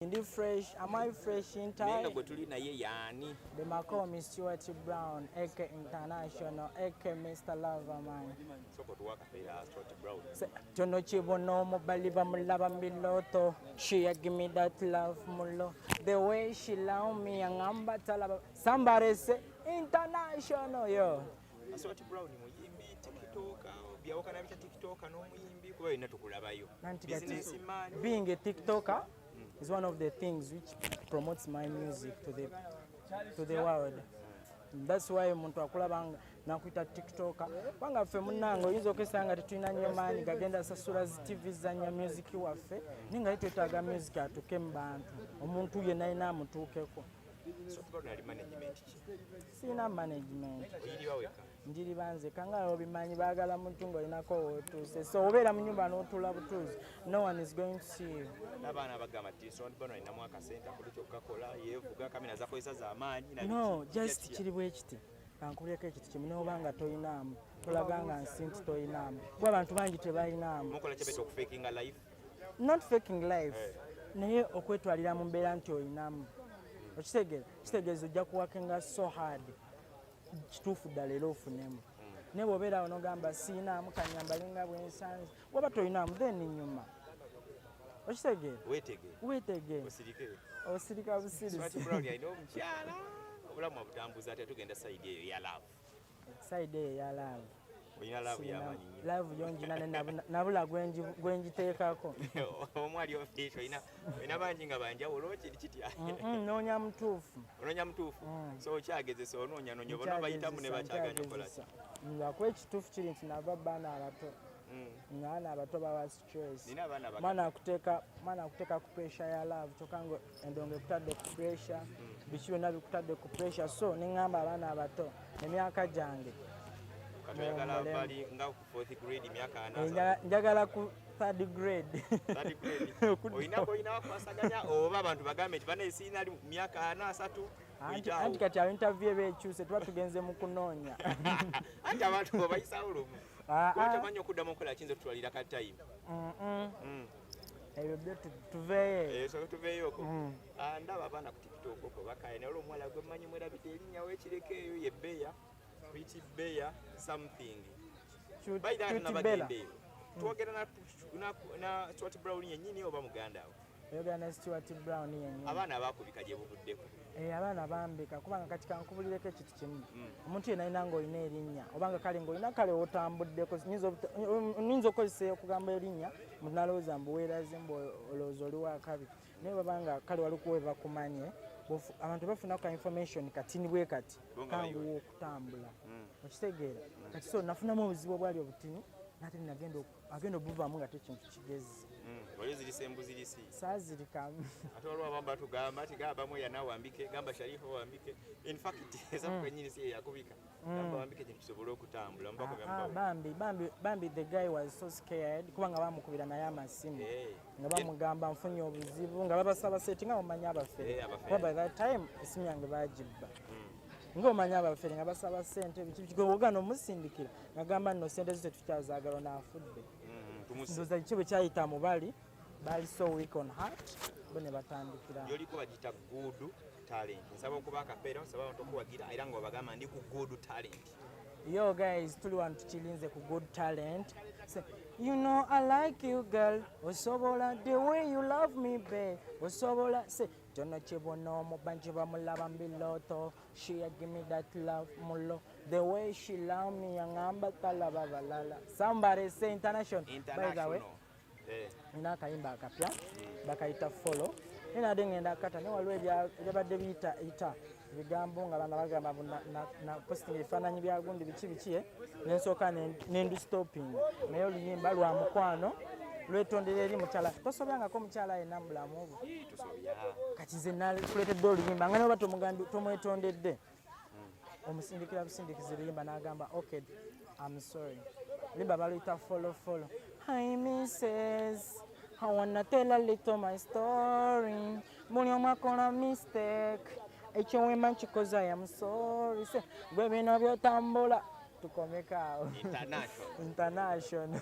Ndi fresh, am I fresh in time? Nenga gwe tuli naye yani. Be mako mi Stuart Brown, AK International, AK Mr. Lover man. Soko tuwaka pera Stuart Brown. Tono chibo no mo baliba mulaba miloto. She a give me that love mulo. The way she love me angamba talaba. Somebody say international yo. Aswati Brown muyimbi TikTok byawukana bita TikTok n'omuyimbi kuba yonna tukulabayo business man being a TikToker mm. is one of the things which promotes my music to the to the world that's why omuntu akulabanga nakuita tiktoka kubanga ffe munange oyinza okesanga nga tetulina nnyo maanyi gagenda sasula zi tv zanya music waffe naye nga yetwetaaga music atuuke mu bantu omuntu yenna yina amutuukeko sirina management njiriba nzeka nga obimanyi baagala muntu ngaolinako wotuuse so obeera mu nyumba n'otuula butuuzi no one is going to see you nabaana bagamba ti sonbano alinamu akasente akuli kyokukakola yevuga kamera zakozesa zamaanyi no just kiri bwekiti kankuleko ekiti kimu noba nga toyinaamu tulaga nga nsi nti toyinaamu kuba abantu bangi tebayinaamu not faking life eh. naye okwetwalira mu mbeera nti oyinamu okitegeera kitegeeza ojja kuwakinga so hard kituufu ddala era ofunemu naye bwobeera awo nogamba siinaamu kanyambalinga bwensanzi waba tolinaamu then nyuma okitegeera wetegee osirika busirisi obulamu abutambuza ate tugenda sayidi eyo yalaavu side eyo eya laavu olina laavu yamanyi nyo laavu yongina nabula gwenjiteekako omu ali ofiisi olina bangi nga banjawulo kiri kitya noonya mutuufu onoonya mutuufu mm. so okyagezesa onoonya noonya oba nobayitamu ne bakyaganya okolaki ngakuba ekituufu kiri nti nava baana abato mm. ngaana abato bawa choice mwana akuteeka mwana akuteeka ku pressure ya love kyokka nga endongo ekutadde ku pressure mm. biki byonna bikutadde ku pressure so ne ŋŋamba abaana abato emyaka gyange njagala ku third grade oba abantu bagambe nti banaesiina myaka ana asatu anti kati awo interview eba ekyuse tuba tugenze mu kunoonya anti abantu obayisawo lumu ah, ah. tamanyi okuddamu okukola kiyinza otutwalira ka time mm. ebyo byo tuveeyootuveeyooko eh, mm. ah, ndaba abaana ku tiktok oko bakaya naye olwomuwala gwe manyi mwerabidde erinnya wekireko eyo ye beya pretty beya something bayira nabagendeeyo twogera na swat brown yenyini oba muganda awo oyogera ne stewart brown yenyini abaana abakubika gye buvuddeko eh, abaana bambika kubanga kati kankubulireko ekintu kimu hmm. omuntu yena alina nga olina erinnya obanga kale nga olina kale otambuddeko nyinza okukozesa okugamba erinnya muntu nalowooza mbu weeraze mbu olowooza oli wakabi naye babanga kale walikuwe bakumanye abantu bafuna ka information kati ni bwe kati kanguwa okutambula hmm. okitegeera kati so nafunamu obuzibu obwali obutini nate ninagenda oku agenda obuvamu nga tekintu kigezi hmm, oyo zirisa embuzi risi sazirikamu ate waliwo abamu batugamba nti gamba bamu yana wambike gamba sharifa wambike infact eza hmm. kwenyini si eyakubika hmm. gamba wambike kintu kisobole okutambula ah, ah, bambi bambi bambi the guy was so scared kuba nga bamukubira naye amasimu eh. nga bamugamba nfunye obuzibu nga babasaba seti nga bamanya abafere eh, kuba by that time esimu yange bagibba ngaomanya abafere nga basaba sente bikigobogana omusindikira nagamba nno sente zo tetukyazagala ono afudde mm, ndoza kiki bwe kyayita mubali bali so week on heart bo ne batandikira yoliko bagita good talent nsaba okuba akapeera nsaba abantu okuwagira era nga obagamba ndi ku good talent yo guys tuli wano tukilinze ku good talent Say, you know i like you girl osobola the way you love me be osobola se kyona kibona omubanji bamulaba mbiloto She a give me that love mulo the way she love me yangamba talaba balala somebody say international, international. by the way eh. nina akayimba akapya bakayita follow nina ade ngenda akata ne waliwo ebyabadde biyita ita ebigambo nga bana bagamba na postinga ebifaananyi bya gundi biki biki eh? nensooka nendi stopping naye oluyimba lwa mukwano lwetondera eri mukyala tosobangako mukyala yenna mubulamu obwo kati nze nakuleetedde oluyimba nga naba tomwetondedde hmm. omusindikira busindikiza oluyimba n'agamba ok am sorry limba baluyita follow follow hi misses I wanna tell a little my story buli omu akola mistake ekyowema nkikoze i am sorry se gwe bino byotambula tukomekaawo international